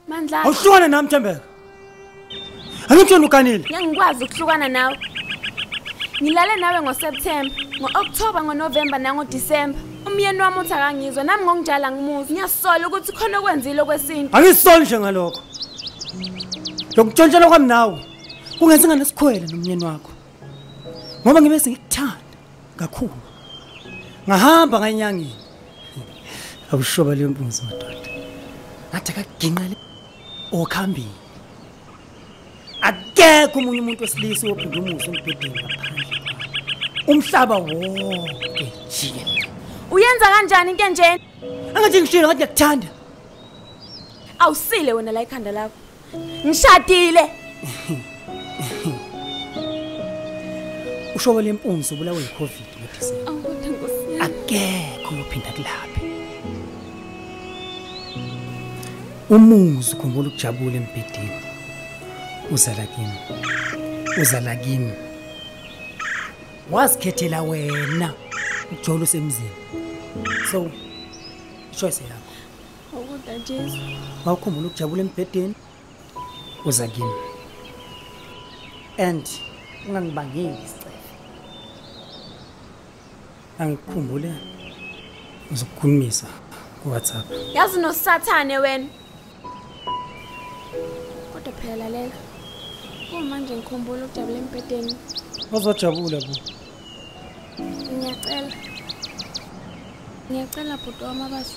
Mandla. Awuhlukane nami Thembeka. Angitshela ukanile. Ngeke ngikwazi ukuhlukana nawe. Ngilale nawe ngoSeptember, ngoOctober, ngoNovember nangoDecember. Umyeni wami uthi akangizwa nami ngokunjala ngimuzi. Ngiyasola ukuthi khona okwenzile okwesintu. Angisoli nje ngalokho. Lokutshontshela kwami nawe kungenza nganesikhwele nomyeni wakho. ngoba ngibe sengikuthanda kakhulu ngahamba nganyangeni akushoba leyo mpunzi madoda ngathi akaginqele okhambini akekho omunye umuntu wesilisa ophinde umuzi embhedeni ngaphandle umhlaba wonke jikelele uyenza kanjani into enjena angathi ngishilo ngathi ngiyakuthanda awusile wena la ikhanda lakho ngishadile ushoke lempunzi ubulawe yicovid ngodisemba akekho uyophinda kulaphe umuzi ukhumbula ukujabula embhedeni uzala kimi uzala kimi wazikhethela wena ujola usemzini so ichoice yakho Ukuda Jesu. Mawukhumbula ukujabula embhedeni uza kimi. And ungangibangeli isicefe. Angikhumbule uzokukhulumisa ku WhatsApp. Yazi nosathane wena. Kodwa phela lalela. Kumanje ngikhumbula ukujabula embhedeni. Uzojabula bo. Ngiyacela. Ngiyacela bhuti wami abasi.